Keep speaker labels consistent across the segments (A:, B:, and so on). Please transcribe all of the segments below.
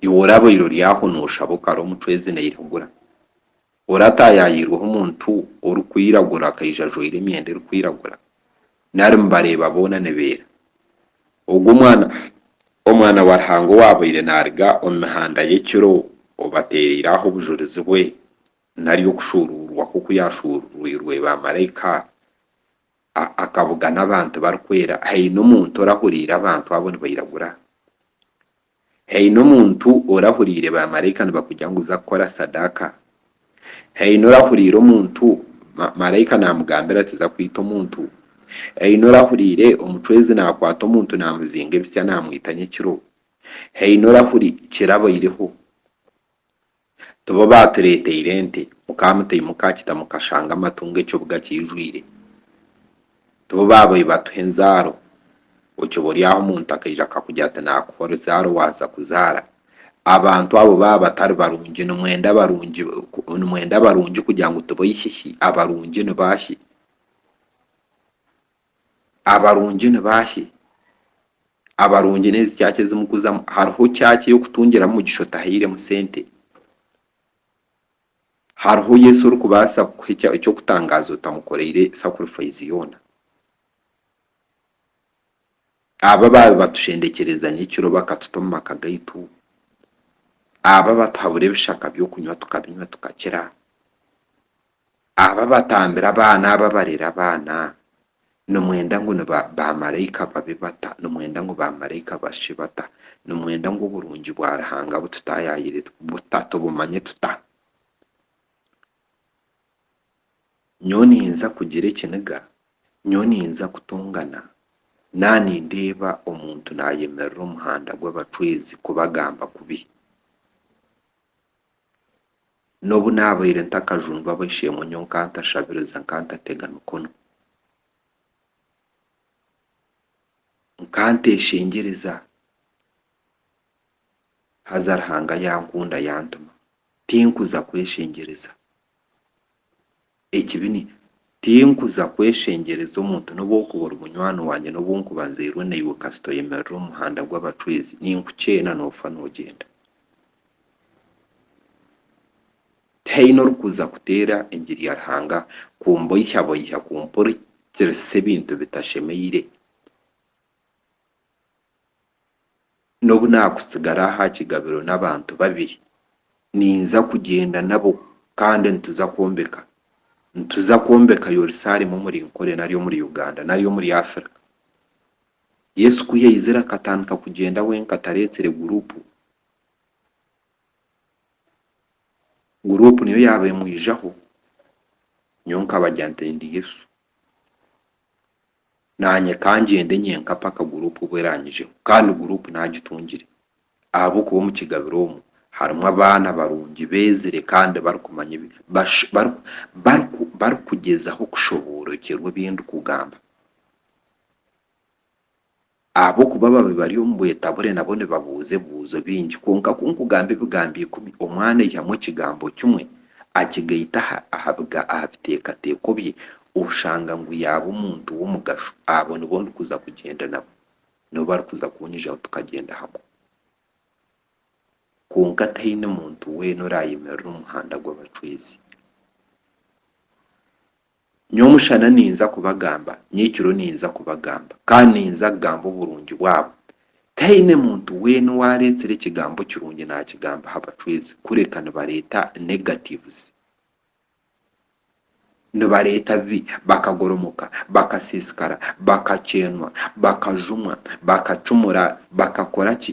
A: Iwe orabaire ori aho nooshaba okara omutwe ezi nairagura, orataayaayirweho omuntu orikwiragura akaija ajwaire emyenda erikwiragura? Nari mubareeba boona nibeera? Ogwo omwana Omwana wa Ruhanga owaabaire naaruga omu mihanda y'ekiro obateereire aho obujurizi bwe, nari okushuuruurwa kwe oku yaashuuruurirwe baamaraika, A Akabuga n'abantu barikwera. Haine omuntu orahuriire abantu abo nibairagura? Haine omuntu orahuriire baamaraika nibakugira ngu za kukora sadaaka? Haine orahuriire omuntu ma, maraika naamugambira ati za kwita omuntu? Haine orahuriire omucwezi naakwata omuntu naamuzinga ebitsya naamwita nyekiro? Haine orahuri, kirabaireho. Tibo baatureeteire ente, mukaamutei mukaakita mukashanga amatungo ekibuga kiijwire. Tibo baabaire batuha enzaaro, okiba ori aho omuntu akaija akakugira ati naakuha oruzaaro waaza kuzaara. Abantu abo baaba batari barungi, nimwenda abarungi nimwenda abarungi kugira ngu tiboihihi, abarungi ni baahi? abarungi ni baahi? Abarungi n'ezi church ezi mukuzamu. Hariho church ey'okutungiramu mugisha otahairemu sente? Hariho Yesu orikubaasa kukuha eky'okutangaaza otamukoreire sacrifice yoona? Aba abaabi batushendekyereeza nyekiro bakatuta omu maka gaitu? Aba abatuhabura ebishaka by'okunywa tukabinywa tukakira? Abo abatambira abaana abo abareera abaana nimwenda ngu baamaraika babe bata? Nimwenda ngu baamaraika bashushe bata? Nimwenda ngu oburungi bwa Ruhanga bututaayaayire buta? Tubumanye tuta? Nyowe niinza kugira ekiniga? Nyowe niinza kutongana? Naaba nindeeba omuntu naayemerera omu muhanda gw'abacwezi kubagamba kubi, N'obu naabaire ntakajundwa ab'eishe-emwe nyowe nkantashabiriza nkantatega mikono. Nkanteshengyereza haza Ruhanga yankunda yantuma. Tinkuza kweshengyereza. ekibi ni tinkuza kweshengyereza omuntu n'obu orikuba ori munywani wangye n'obu nkuba nzairwe naiwe kasita oyemerera omu muhanda gw'abacwezi ninkukyeena noofa noogyenda tihaine orikuza kuteera engiri ya Ruhanga kumboihyaboihya kumpurikirisa ebintu bitashemeire. N'obu naakutsigara aha kigabiro n'abantu babiri, ninza kugyenda nabo kandi nituza kwombeka nituza kwombeka Yerusalemu omuri Nkore nari omuri Uganda nari omuri Africa. Yesu ku yaizire akatandika kugyenda wenka tareetsire guruupu. Guruupu niyo yaaba emwijaho, nyowe nkabagya nti ndi Yesu. naanye ka ngyende nyenka paka guruupu obu eranyijeho kandi guruupu naagitungire ahabw'okuba omu kigabiro omu harimu abaana barungi beezire kandi barikumanya ebi bash bari bariku barikugyezaho kushoboorekyerwa ebi ndikugamba. Ahabw'okuba ababi bari omu bwetabure nabo nibabuuza ebibuuzo bingi. Kwonka ku nkugamba ebigambo ikumi, omwana aihamu ekigambo kimwe, akigaita aha aha biteekateeko bye, oshanga ngu yaaba omuntu w'omugasho. Abo nibo ndikuza kugyenda nabo. Nibo barikuza kunyijaho tukagyenda hamwe. Kwonka tihaine muntu weena oraayemerera omu muhanda gw'abacwezi. Nyowe omushana ninza kubagamba, nyekiro ninza kubagamba, kandi ninza kugamba oburungi bwabo. Tihaine muntu weena owareetsire ekigambo kirungi naakigamba aha bacwezi, kureka nibareeta negatives. Nibareeta bibi, bakagoromoka, bakasiisikara, bakakyenwa, bakajumwa, bakacumura, bakakora ki?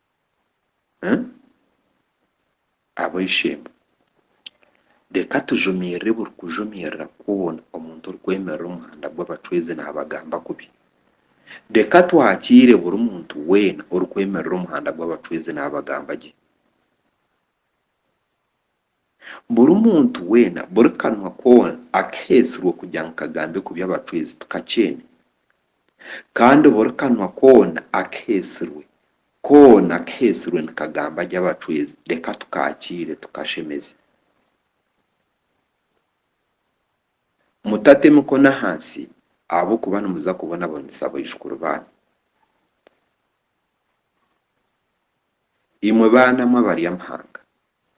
A: Ab'eishe-emwe, reka tujumirire buri kujumirira kwona omuntu orikwemerera omu muhanda gw'abacwezi naabagamba kubi. Reka twakiire buri muntu weena orikwemerera omu muhanda gw'abacwezi naabagamba gye. Buri muntu weena, buri kanwa koona akaheetsirwe kugira ngu kagambe kubi abacwezi tukakyeene. Kandi buri kanwa koona akaheetsirwe, koona kaheetsirwe nikagamba gye abacwezi, reka tukaakiire tukashemeze. Mutate mikono ahansi ahabw'okuba nimuza kubonabonesa baijukuru baanyu. Imwe baana mwe abari amahanga.